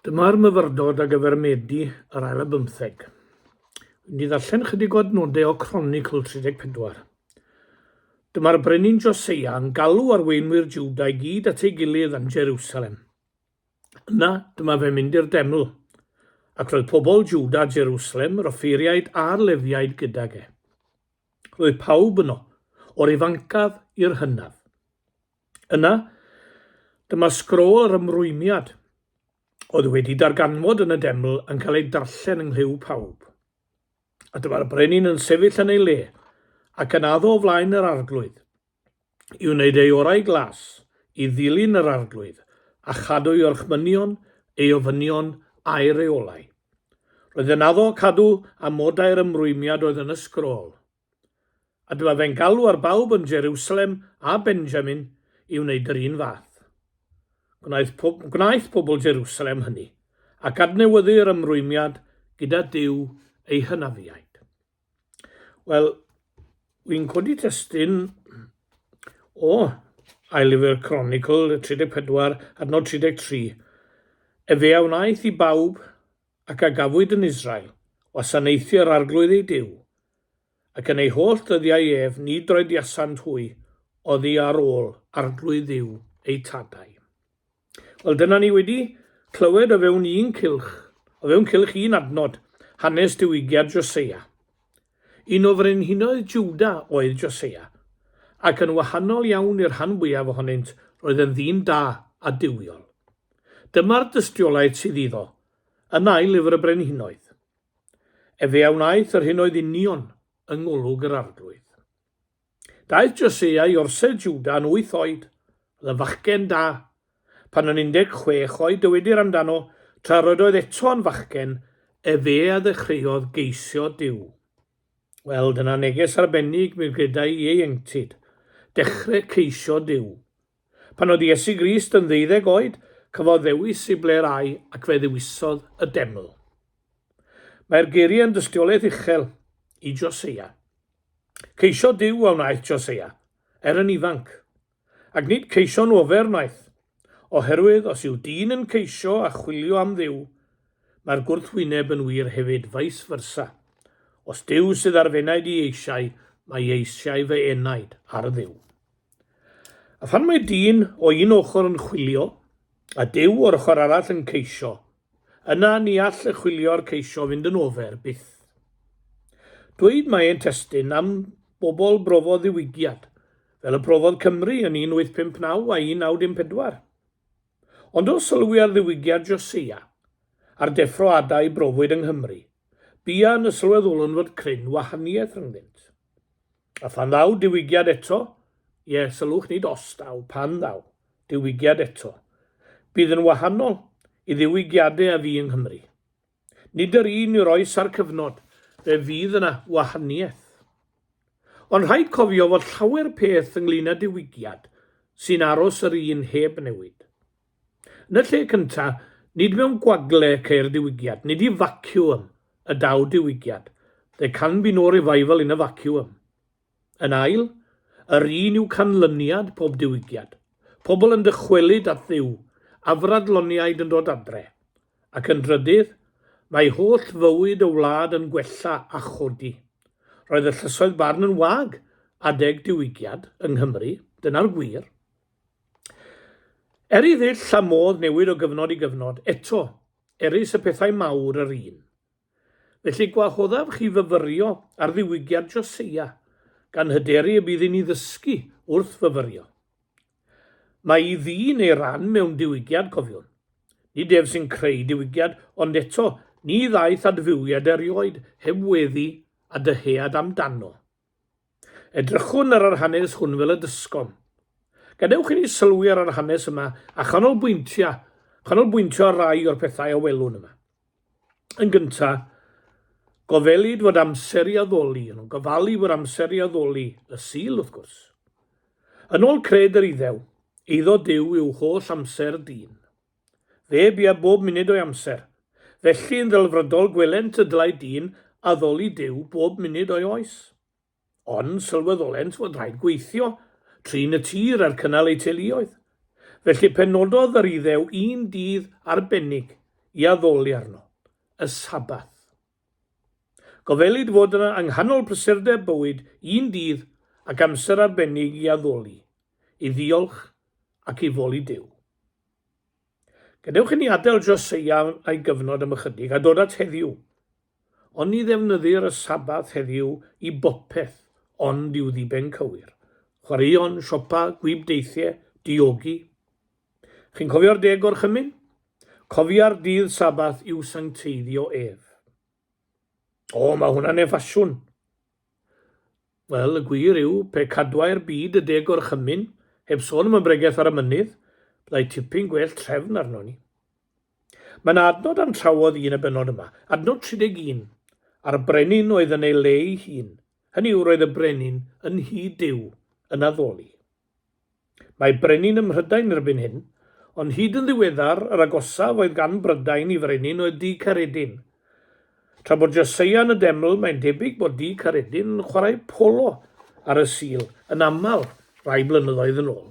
Dyma'r myfyrdod a gyfer Medi yr ail a bymtheg. Dwi'n di ddarllen chydig o adnodau o Cronicl 34. Dyma'r brenin Joseia yn galw arweinwyr Juda i gyd at ei gilydd yn Jerusalem. Yna, dyma fe mynd i'r deml, ac roedd pobl Juda, Jerusalem, yr offeiriaid a'r lefiaid gydag e. Roedd pawb yno, o'r ifancaf i'r hynaf. Yna, dyma sgrôl yr ymrwymiad oedd wedi darganfod yn y deml yn cael ei darllen yng nghlyw pawb. A dyma'r brenin yn sefyll yn ei le, ac yn addo o flaen yr arglwydd, i wneud ei orau glas i ddilyn yr arglwydd, a chadw ei orchmynion, ei ofynion, a'i reolau. Roedd yn addo cadw amodau'r ymrwymiad oedd yn y sgrôl. A dyma fe'n galw ar bawb yn Jerusalem a Benjamin i wneud yr un fath. Gwnaeth, po gwnaeth pobl Jerusalem hynny, ac adnewyddu'r ymrwymiad gyda Dyw ei hynafiaid. Wel, wy'n codi testyn o Ailifyr Chronicle 34, adnod 33. Efe a wnaeth i bawb ac a gafwyd yn Israel, wasanaethu yr Arglwydd ei Duw, ac yn ei holl ddyddiau ef ni droediasant hwy oddi ar ôl Arglwydd Dduw eu tadau. Wel, dyna ni wedi clywed o fewn un cylch, o fewn cylch un adnod, hanes diwygiad Josia. Un o frenhinoedd Jwda oedd Josia, ac yn wahanol iawn i'r rhan fwyaf ohonynt, roedd yn ddyn da a duwiol. Dyma'r dystiolaeth sydd iddo yn ail lyfr y Brenhinoedd. Efe a wnaeth yr hyn oedd union yng ngolwg yr Arglwydd. Daeth Josea i orsedd Jwda yn wyth oed. Oedd yn fachgen da. Pan yn 16 oed, dywedir amdano, tra yr oedd eto yn fachgen, efe a ddechreuodd geisio Duw. Wel, dyna neges arbennig, mi gredai ieuenctid. Dechrau ceisio Duw. Pan oedd Iesu Grist yn ddeuddeg oed, cafodd ddewis i ble'r ai ac fe ddewisodd y deml. Mae'r geiriau yn dystiolaeth uchel i Joseia. Ceisiodd Duw a wnaeth Joseia, er yn ifanc. Ac nid ceisio'n ofer wnaeth, oherwydd os yw dyn yn ceisio a chwilio am Dduw, mae'r gwrthwyneb yn wir hefyd vice versa. Os Duw sydd ar f'enaid i eisiau, mae eisiau fy enaid ar Dduw. A phan mae dyn o un ochr yn chwilio, a Duw o'r ochr arall yn ceisio, yna ni all y chwilio a'r ceisio fynd yn ofer, byth. Dweud mae e'n testun am bobl brofodd ddiwygiad, fel y profodd Cymru yn 1859 a 1914. Ond os sylwi ar ddiwygiad Josia, a'r deffro ada i brofwyd yng Nghymru, buan y sylweddolwn fod cryn wahaniaeth rhyngddynt. A phan ddaw diwygiad eto, ie, sylwch nid os ddaw, pan ddaw diwygiad eto, bydd yn wahanol i ddiwygiadau a fu yng Nghymru. Nid yr un yw'r oes a'r cyfnod, fe fydd yna wahaniaeth. Ond rhaid cofio fod llawer peth ynglŷn â diwygiad sy'n aros yr un heb newid. Yn y lle cyntaf, nid mewn gwagle ceir diwygiad, nid i vacuum y daw diwygiad, there can be no revival in a vacuum. Yn ail, yr un yw canlyniad pob diwygiad, pobl yn dychwelyd at Dduw, afradloniaid yn dod adre. Ac yn drydydd, mae holl fywyd y wlad yn gwella a chodi. Roedd y llysoedd barn yn wag adeg diwygiad yng Nghymru, dyna'r gwir. Er i ddull a modd newid o gyfnod i gyfnod, eto, erys y pethau mawr yr un. Felly gwahoddaf chi fyfyrio ar ddiwygiad Joseia, gan hyderu y bydd i ni ddysgu wrth fyfyrio. Mae i ddyn ei ran mewn diwygiad, cofiwn. Nid ef sy'n creu diwygiad, ond eto, ni ddaeth adfywiad erioed heb weddi a dyhead amdano. Edrychwn ar yr hanes hwn fel y dysgom. Gadewch i ni sylwi ar yr hanes yma a chanolbwyntia, chanolbwyntio ar rai o'r pethau a welwn yma. Yn gynta, gofelid fod amser i addoli, yn o'n gofalu fod amser i addoli, y Sul wrth gwrs. Yn ôl cred yr Iddew, eiddo Duw yw holl amser dyn. Fe bia bob munud o'i amser. Felly, yn ddelfrydol, gwelent y dylai dyn addoli Duw bob munud o'i oes. Ond sylweddolent fod rhaid gweithio, trin y tir a'r cynnal eu teuluoedd. Felly, penododd yr Iddew un dydd arbennig i addoli arno, y Sabbath. Gofelid fod yna yng nghanol prysurdeb bywyd un dydd ac amser arbennig i addoli, i ddiolch ac i foli Duw. Gadewch i ni adael Joseia a'i gyfnod am ychydig a dod at heddiw. Ond ni ddefnyddir y Sabbath heddiw i bopeth ond i'w ddiben cywir. Chwaraeon, siopa, gwibdeithiau, diogi. Chi'n cofio'r deg gorchymyn? Cofia'r dydd Sabbath i'w sancteiddio ef. O, mae hwnna'n ne ffasiwn. Wel, y gwir yw, pe cadwai'r byd y de gorchymyn, heb sôn am y bregeth ar y mynydd, byddai tipyn gwell trefn arnon ni. Mae yna adnod am trawodd i yn y bennod yma, adnod 31, a'r brenin oedd yn ei le ei hun, hynny yw roedd y brenin yn nhŷ Duw, yn addoli. Mae brenin ym Mhrydain erbyn hyn, ond hyd yn ddiweddar yr agosaf oedd gan Brydain i frenin oedd Du Caeredin. Tra bod Josia yn y deml, mae'n debyg bod Du Caeredin yn chwarae polo ar y Sul yn aml rai blynyddoedd yn ôl.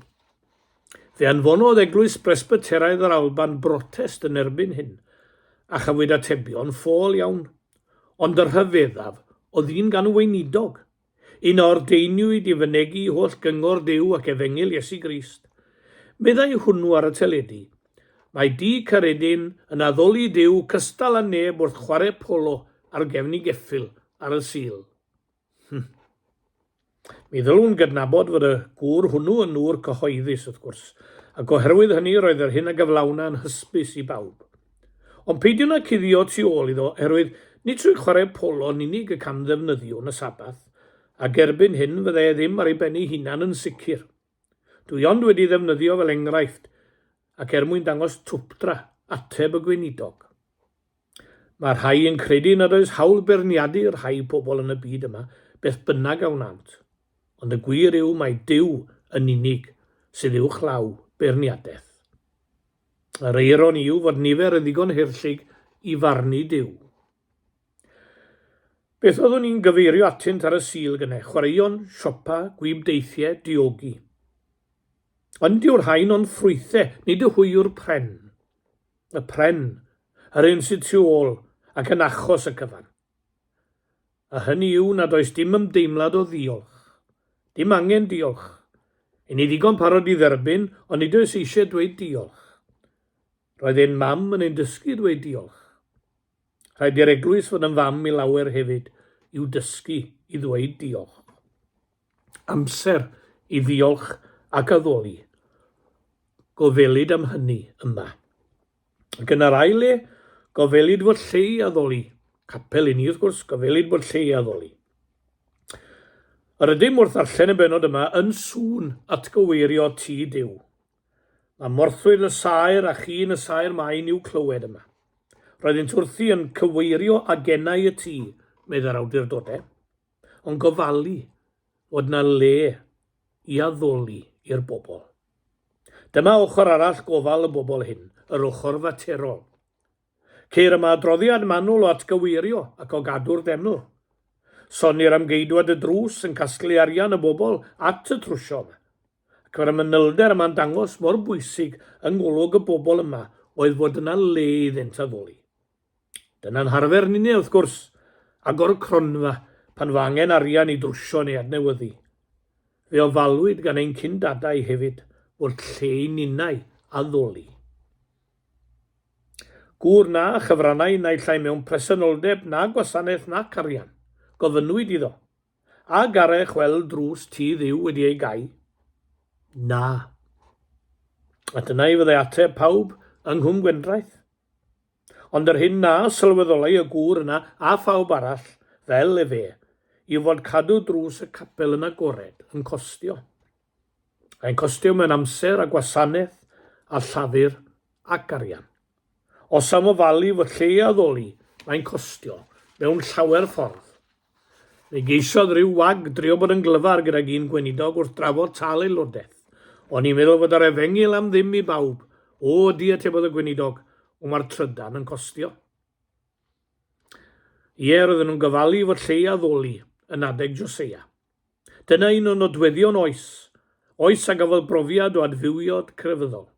Fe anfonodd Eglwys Bresbyteraidd yr Alban brotest yn erbyn hyn, a chafwyd atebion ffôl iawn. Ond y rhyfeddaf oedd un gan y weinidog, Yn ordeiniwyd i fynegi holl gyngor Duw ac efengyl Iesu Grist. Meddai hwnnw ar y teledu, Mae Dŷ Caeredin yn addoli Duw cystal â neb wrth chwarae polo ar gefn ei geffyl ar y Sul. Hm. Mi ddylwn gydnabod fod y gŵr hwnnw yn ŵr cyhoeddus, wrth gwrs, ac oherwydd hynny roedd yr hyn a gyflawna yn hysbys i bawb. Ond peidiwn â cuddio tu ôl iddo oherwydd nid trwy chwarae polo yn unig y cam ddefnyddiwn y Sabbath, ac erbyn hyn fydda e ddim ar ei ben ei hunan yn sicr. Dw i ond wedi ddefnyddio fel enghraifft ac er mwyn dangos twpdra, ateb y Gweinidog. Mae rhai yn credu nad oes hawl beirniadu rhai pobl yn y byd yma beth bynnag a wnânt, ond y gwir yw mai Duw yn unig sydd uwchlaw beirniadaeth. Yr eironi yw fod nifer yn ddigon haerllug i farnu Duw. Beth oeddwn i'n gyfeirio atynt ar y Sul gynnau? Chwaraeon, siopa, gwyb deithiau, diogi. Ond dyw'r rhain ond ffrwythau, nid y hwy yw'r pren. Y pren, yr un sydd tu ôl, ac yn achos y cyfan. a hynny yw nad oes dim ymdeimlad o ddiolch. Dim angen diolch. Yn ni ddigon parod i dderbyn, ond nid oes eisiau dweud diolch. Roedd ein mam yn ein dysgu dweud diolch. Rhaid i'r eglwys fod yn fam i lawer hefyd, i'w dysgu i ddweud diolch. Amser i ddiolch ac addoli. Gofelid am hynny yma. Ac yn yr ail le, gofelid fod lle i addoli. Capel i ni, wrth gwrs, gofelid bod lle i addoli. Yr ydym wrth ddarllen y benod yma yn sŵn atgyweirio ti Dyw. Mae morthwyl y saer a chyn y saer maen i'w clywed yma. Roeddynt wrthi yn cyweirio agenau y tŷ, meddai'r awdurdodau, ond gofalu fod na le i addoli i'r bobl. Dyma ochr arall gofal y bobl hyn, yr ochr faterol. Ceir yma adroddiad manwl o atgyweirio ac o gadw'r deml. Sonnir am geidwad y drws yn casglu arian y bobl at y trwsio yma, ac mae'r manylder yma'n dangos mor bwysig yng ngolwg y bobl yma oedd fod yna le iddynt addoli. Dyna'n harfer ninne, wrth gwrs, agor cronfa pan fo angen arian i drwsio neu adnewyddu. Fe ofalwyd gan ein cyn-dadau hefyd fod lle i ninnau addoli. Gŵr na chyfrannai naill ai mewn presenoldeb na gwasanaeth nac arian, gofynnwyd iddo, A garech weld drws tŷ Dduw wedi ei gau? Na. A dyna i fyddai ateb pawb yng Nghwm Gwendraeth. Ond yr hyn na sylweddolai y gŵr yna a phawb arall fel efe yw fod cadw drws y capel yn agored yn costio. Mae'n costio mewn amser a gwasanaeth a llafur ac arian. Os am ofalu fod lle i addoli, mae'n costio, mewn llawer ffordd. Fe geisiodd ryw wag drio bod yn glyfar gydag un gweinidog wrth drafod tâl aelodaeth. O'n i'n meddwl fod yr efengyl am ddim i bawb. O, ydy, atebodd y gweinidog, ond mae'r trydan yn costio. Ie, roedden nhw'n gofalu fod lle i addoli yn adeg Joseia. Dyna un o nodweddion oes, oes a gafodd brofiad o adfywiod crefyddol.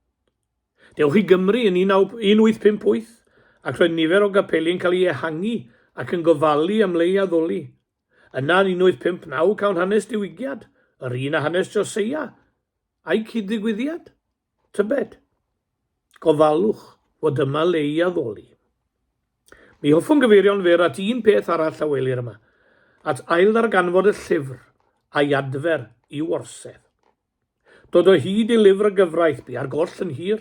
Dewch i Gymru yn 1858 ac roedd nifer o gapeli yn cael ei ehangu ac yn gofalu am le i addoli. Yna yn 1859 cawn hanes diwygiad, yr un a hanes Joseia a'i cyd-ddigwyddiad, tybed? Gofalwch fod yma le i addoli. Mi hoffwn gyfeirio'n fyr at un peth arall a welir yma, at ailddarganfod y llyfr a'i adfer i'w orsedd. Dod o hyd i lyfr y gyfraith bu ar goll yn hir.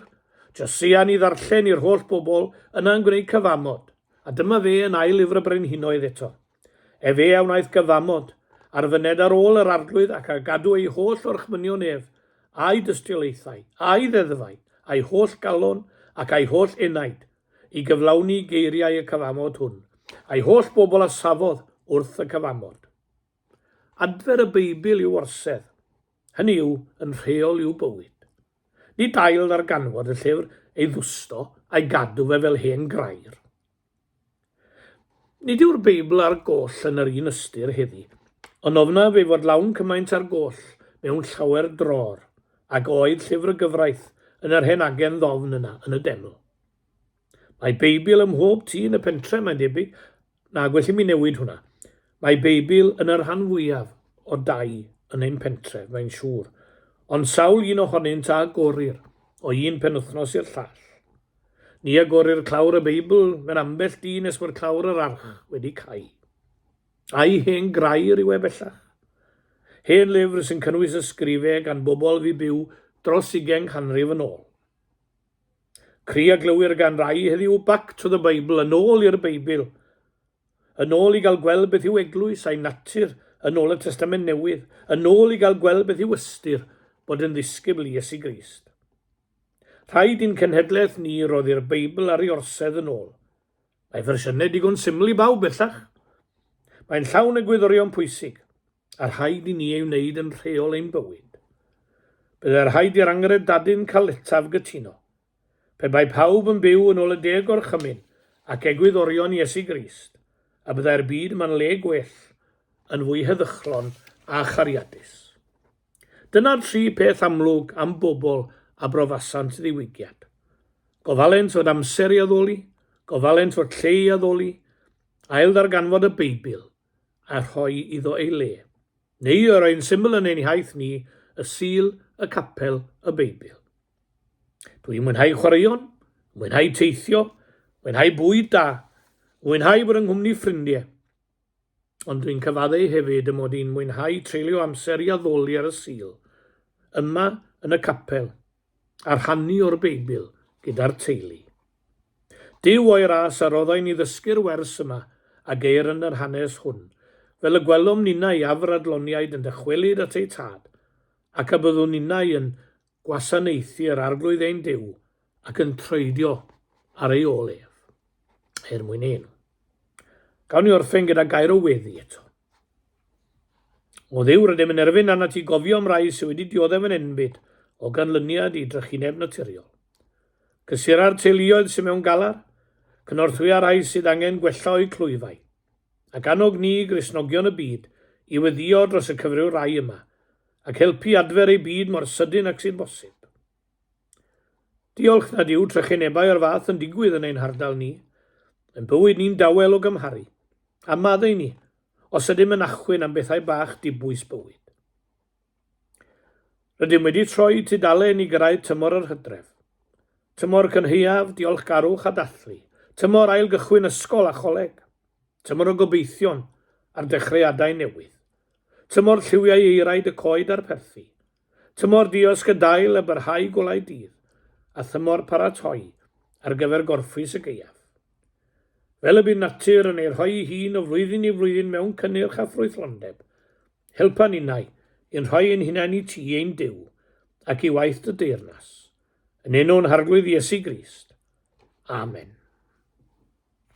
Josian i ddarllen i'r holl bobl, yna yn gwneud cyfamod, a dyma fe yn ail lyfr y Brenhinoedd eto. Efe a wnaeth gyfamod, ar fyned ar ôl yr Arglwydd ac a gadw ei holl orchmynion ef, a'i dystiolaethau, a'i ddeddfau, a'i holl galon, ac a'i holl enaid, i gyflawni geiriau y cyfamod hwn, a'i holl bobl a safodd wrth y cyfamod. Adfer y Beibl i'w orsedd, hynny yw, yn rheol i'w bywyd. Nid ail ddarganfod y llyfr, ei ddwsto, a'i gadw fe fel hen grair. Nid yw'r Beibl a'r goll yn yr un ystyr heddi, ond ofnaf ei fod lawn cymaint â'r goll mewn llawer dror, ag oedd llyfr y gyfraith yn yr hen agen ddofn yna yn y deml. Mae Beibl ym mhob tŷ yn y pentre, mae'n debyg, Na, gwell i mi newid hwnna. Mae Beibl yn y rhan fwyaf o dai yn ein pentref, mae'n siŵr, ond sawl un ohonynt a agorir o un penwythnos i'r llall? Ni agorir clawr y Beibl mewn ambell dyn nes bod clawr yr arch wedi cau. A'i hen grair yw e bellach. Hen lyfr sy'n cynnwys ysgrifau gan bobl fu byw dros ugain canrif yn ôl. Cry a glywir gan rai heddiw yw Back to the Bible, yn ôl i'r Beibl. Yn ôl i gael gweld beth yw eglwys a'i natur yn ôl y Testament Newydd, yn ôl i gael gweld beth yw ystyr bod yn ddisgybl i Iesu Grist. Rhaid i'n cenhedlaeth ni roddi'r Beibl ar ei orsedd yn ôl. Mae fersiynau digon syml i bawb bellach. Mae'n llawn egwyddorion pwysig. a rhaid i ni ei wneud yn rheol ein bywyd. Byddai rhaid i'r angred dadyn cael etaf gytuno. Pe bai pawb yn byw yn ôl y deg o'r chymyn ac egwyddorion Iesu Grist, y byddai'r byd yma'n le gwell, yn fwy heddychlon a chariadus. Dyna'r tri peth amlwg am bobl a brofasant ddiwygiad. Gofalent fod amser i addoli, gofalent fod lle i addoli, ail ddarganfod y Beibl, a rhoi iddo ei le, neu yr un syml yn ein hiaith ni, y Sul, y Capel, y Beibl. Dwi'n mwynhau chwaraeon, mwynhau teithio, mwynhau bwyd da, mwynhau bod yng nghwmni ffrindiau. Ond dwi'n cyfaddeu hefyd y mod i'n mwynhau treulio amser i addoli ar y Sul, yma yn y capel, a rhannu o'r Beibl gyda'r teulu. Duw o'i ras a roddai ni ddysgu'r wers yma a geir yn yr hanes hwn, fel y gwelom ninnau afradloniaid yn dychwelyd at eu Tad, ac a byddwn ninnau yn gwasanaethu yr Arglwydd ein Duw ac yn troedio ar ei ôl ef, er mwyn ei enw. Gawn ni orffen gyda gair o weddi eto. O Dduw, rydym yn erfyn arnat ti gofio am rai sydd wedi dioddef yn enbyd o ganlyniad i drychineb naturiol. Cysura'r teuluoedd sydd mewn galar, cynorthwya rai sydd angen gwella o'u clwyfau, ac annog ni, Gristnogion y byd, i weddïo dros y cyfryw rai yma, ac helpu i adfer eu byd mor sydyn ac sy'n bosib. Diolch nad yw trychinebau o'r fath yn digwydd yn ein hardal ni. Ein bywyd ni'n dawel o gymharu â maddau ni, os ydym yn achwyn am bethau bach dibwys bywyd. Rydym wedi troi tudalen i gyrraedd tymor yr hydref. Tymor cynhaeaf, diolchgarwch a dathlu. Tymor ail gychwyn ysgol a choleg. Tymor o gobeithion a'r dechreuadau newydd. Tymor lliwiau eiraid y coed a'r perthi. Tymor diosg y dail a byrhau golau dydd, a thymor paratoi ar gyfer gorffwys y gaeaf. Fel y bydd natur yn ei rhoi ei hun o flwyddyn i flwyddyn mewn cynnyrch a ffrwythlondeb, helpa ninnau i'n rhoi ein hunain i ti, ein Duw, ac i waith dy deyrnas. Yn enw'n Harglwydd Iesu Grist. Amen.